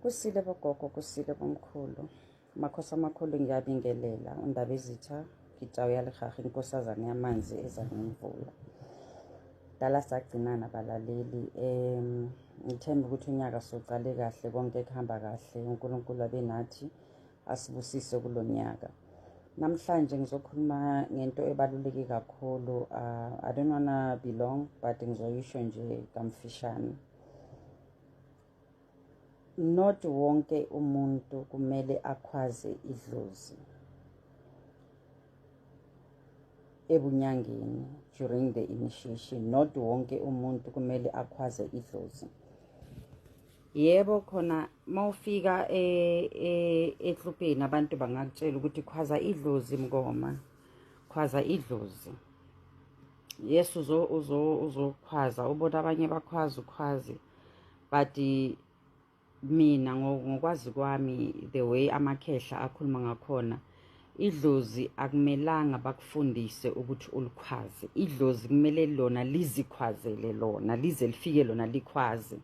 kusile bogogo kusile bomkhulu makhosi amakhulu ngiyabingelela undaba izitha ngitawu yalihaha inkosazane yamanzi eza nemvula dala sagcinana balaleli um ngithemba ukuthi unyaka socale kahle konke kuhamba kahle unkulunkulu abe nathi asibusise kulo nyaka namhlanje ngizokhuluma ngento ebaluleke kakhulu uh, i don't wanna be long but ngizoyisho nje kamfishane not wonke umuntu kumele akhwaze idlozi ebunyangeni during the initiation not wonke umuntu kumele akhwaze idlozi yebo khona mawufika e, e, eklubheni abantu bangakutshela ukuthi khwaza idlozi mngoma khwaza idlozi yes uzokhwaza ubona abanye bakhwaza ukhwazi but mina ngokwazi kwami the way amakhehla akhuluma ngakhona idlozi akumelanga bakufundise ukuthi ulikhwaze idlozi kumele lona lizikhwazele lona lize lifike lona likhwaze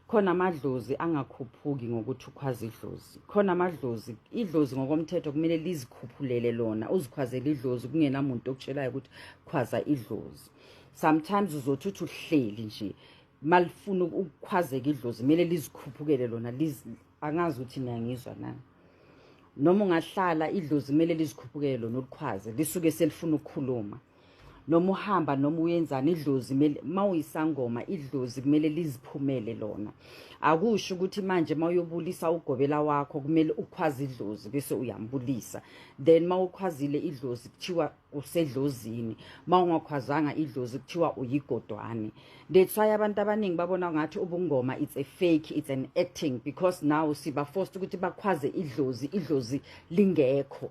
khona amadlozi angakhuphuki ngokuthi ukhwaza idlozi khona amadlozi idlozi ngokomthetho kumele lizikhuphulele lona uzikhwazele idlozi kungenamuntu okutshelayo ukuthi khwaza idlozi sometimes uzothi uthi uhleli nje malifuna ukukhwazeka idlozi kumele lizikhuphukele lona angazi ukuthi niyangizwa na noma ungahlala idlozi kumele lizikhuphukele lona ulikhwaze lisuke selifuna ukukhuluma noma uhamba noma uyenzani idlozi kumele mawuyisangoma idlozi kumele liziphumele lona akusho ukuthi manje mawuyobulisa ugobela wakho kumele ukhwaze idlozi bese uyambulisa then mawukhwazile idlozi kuthiwa usedlozini mawungakhwazanga idlozi kuthiwa uyigodwane that's why abantu abaningi babona ngathi ubungoma it's a fake it's an acting because now siba forced ukuthi bakhwaze idlozi idlozi lingekho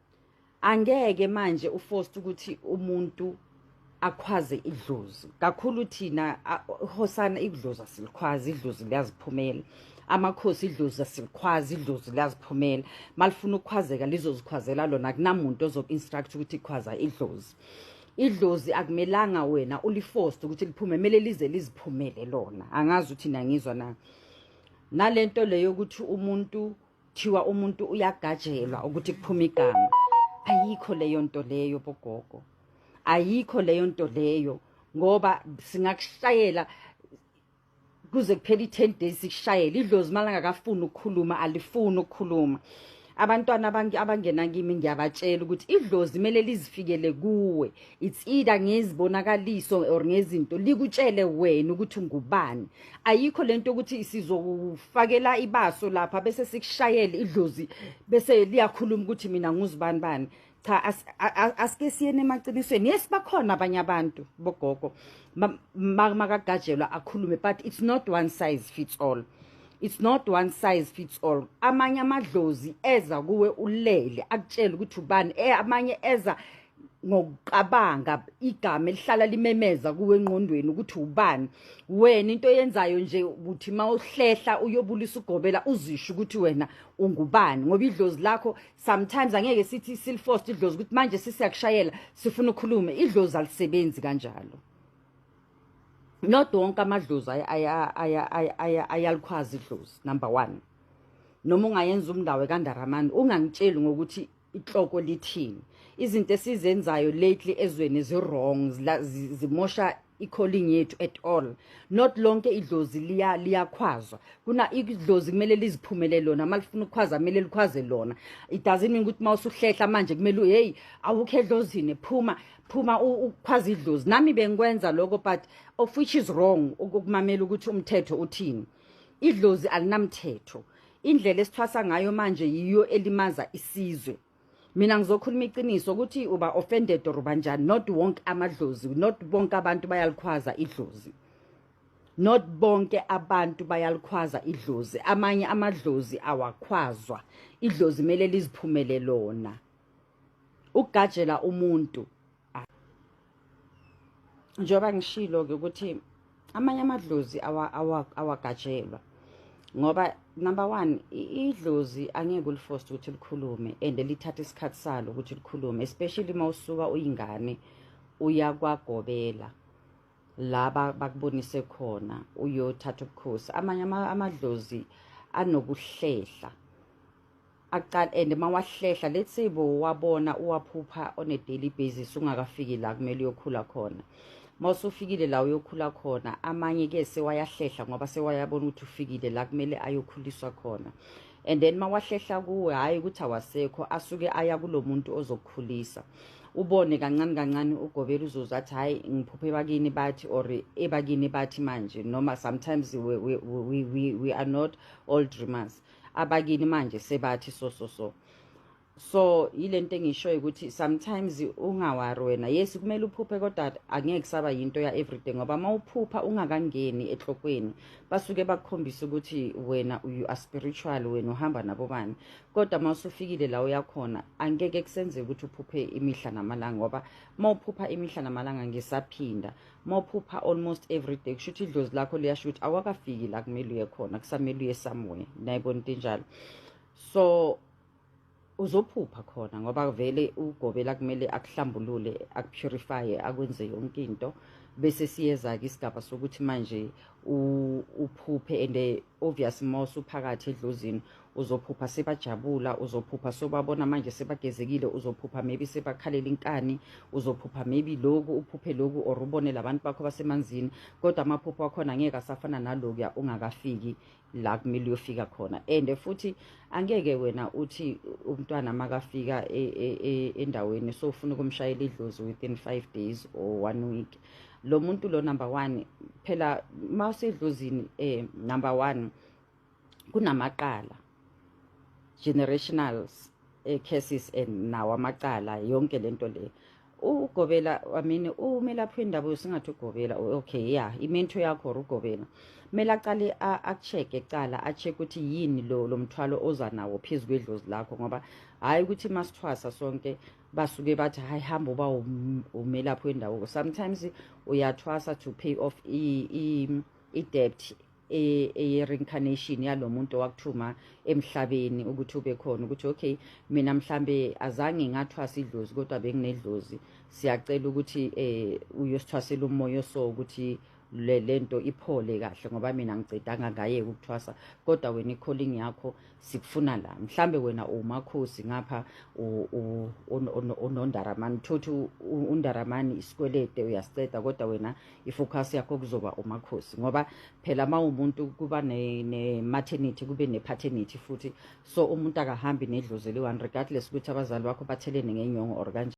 angeke manje uforced ukuthi umuntu akhwaze idlozi kakhulu thina hosana idlozi asilikhwazi idlozi liyaziphumela amakhosi idlozi asilikhwazi idlozi liyaziphumela malifuna ukukhwazeka lizozikhwazela lona kunamuntu ozoku-instruct ukuthi ikhwaza idlozi idlozi akumelanga wena uliforced ukuthi liphume kumele lize liziphumele lona angazi ukuthi nangizwa na nalento leyo ukuthi umuntu kuthiwa umuntu uyagajelwa ukuthi kuphume igama ayikho leyo nto leyo bogogo ayikho leyo nto leyo ngoba singakushayela kuze kuphela i-ten days sikushayele idlozi uma langakafuni ukukhuluma alifuni ukukhuluma abantwana abangena kimi ngiyabatshela ukuthi idlozi kumele lizifikele kuwe it's either ngezibonakaliso or ngezinto likutshele wena ukuthi ungubani ayikho lento ukuthi sizokufakela ibaso lapha bese sikushayele idlozi bese liyakhuluma ukuthi mina nguzibani bani cha asike siyene emaqinisweni yes bakhona abanye abantu bogogo makagajelwa akhulume but it's not one size fits all it's not one size fits all amanye amadlozi eza kuwe ulele akutshela ukuthi ubani eh, amanye eza ngokucabanga igama elihlala limemeza kuwe engqondweni ukuthi ubani wena into yenzayo nje ukuthi mawuhlehla uyobulisa ugobela uzisho ukuthi wena ungubani ngoba idlozi lakho sometimes angeke sithi silfost idlozi ukuthi manje sisiyakushayela sifuna ukhulume idlozi alisebenzi kanjalo not wonke amadlozi ayalukhwazi idlozi number 1 noma ungayenza umndawe kandaramani ungangitsheli ngokuthi ihloko lithini izinto esizenzayo lately ezweni zi-wrong zimosha i-calling yethu at all not lonke idlozi liya liyakhwazwa kuna idlozi kumele liziphumele lona uma lifuna ukukhwaza kumele likhwaze lona it doesn't mean ukuthi uma usuhlehla manje kumele heyi awukho edlozini phuma phuma ukhwaza idlozi nami bengikwenza lokho but of which is wrong ukumamela ukuthi umthetho uthini idlozi alinamthetho indlela esithwasa ngayo manje yiyo elimaza isizwe mina ngizokhuluma iqiniso ukuthi uba offended or banjani not wonke amadlozi not bonke abantu bayalikhwaza idlozi not bonke abantu bayalikhwaza idlozi amanye amadlozi awakhwazwa idlozi kumele liziphumele lona ukugajela umuntu ah. njengoba ngishilo-ke ukuthi amanye amadlozi awagajelwa ngoba number one idlozi angeke ulifoste ukuthi likhulume and lithatha isikhathi salo ukuthi likhulume especially uma usuka uyingane uyakwagobela laba bakubonise khona uyothatha ubukhosi amanye amadlozi anokuhlehla akuqala and uma wahlehla let's say bo wabona uwaphupha on a daily basis ungakafiki la kumele uyokhula khona uma usufikile la uyokhula khona amanye ke sewayahlehla ngoba sewayabona ukuthi ufikile la kumele ayokhuliswa khona and then mawahlehla kuwe hhayi ukuthi awasekho asuke aya kulo muntu ozokukhulisa ubone kancane kancane ugobela uzoze athi hhayi ngiphuphe bakini bathi or ebakini bathi manje noma sometimes we, we, we, we, we are not all dreamers abakini manje sebathi so so so so yilento engishoyo ukuthi sometimes ungawari wena yes kumele uphuphe kodwa angeke kusaba yinto ya everyday ngoba uma uphupha ungakangeni ehlokweni basuke bakukhombisa ukuthi wena you are spiritual wena uhamba nabobani kodwa uma usufikile la uyakhona angeke kusenzeke ukuthi uphuphe imihla namalanga ngoba uma uphupha imihla namalanga ngisaphinda mawuphupha almost every day kusho ukuthi idlozi lakho liyasho ukuthi awakafiki la kumele uye khona kusamele uye somewhere nayibona into enjalo so uzophupha khona ngoba vele ugobela kumele akuhlambulule akupurifye akwenze yonke into bese siyeza-ke isigaba sokuthi manje uphuphe and obvious ma usuphakathi edlozini uzophupha sebajabula uzophupha sobabona manje sebagezekile uzophupha maybe sebakhalela inkani uzophupha maybe loku uphuphe loku or ubone labantu bakho basemanzini kodwa amaphupho akhona ngeke asafana nalokuya ungakafiki la kumele uyofika khona and futhi angeke wena uthi umntwana makafika e, e, e, endaweni so ufuna ukumshayela idlozi within 5 days or one week lo muntu lo number 1 phela mawusedlozini eh number 1 kunamacala generationals eh, cases and nawo amacala yonke lento le ugobela amini umelaphi wendaba usingathi ugobela okay ya yeah, imento yakho or ugobela kumele aqale akucheke cala acheke ukuthi yini lo lo mthwalo oza nawo phezu kwedlozi lakho ngoba hhayi ukuthi masithwasa sonke basuke bathi hhayi hamba uba um, umelaphi wendawo sometimes uyathwasa to pay off i-debt e, eye-reincarnation yalo muntu owakuthuma emhlabeni ukuthi ube khona ukuthi okay mina mhlambe azange ngathwasa idlozi kodwa benginedlozi siyacela ukuthi um uyosithwasela umoya oso ukuthi le lento iphole kahle ngoba mina ngicedanga ngaye ukuthwasa kodwa wena i-calling yakho sikufuna la mhlambe wena umakhosi ngapha unondaramani thothi undaramani isikwelede uyasiceda kodwa wena ifocus yakho kuzoba umakhosi ngoba phela uma umuntu kuba ne-maternity kube ne-paternity futhi so umuntu akahambi nedlozi eliyi-one regardless ukuthi abazali bakho bathelene ngenyongo or kanje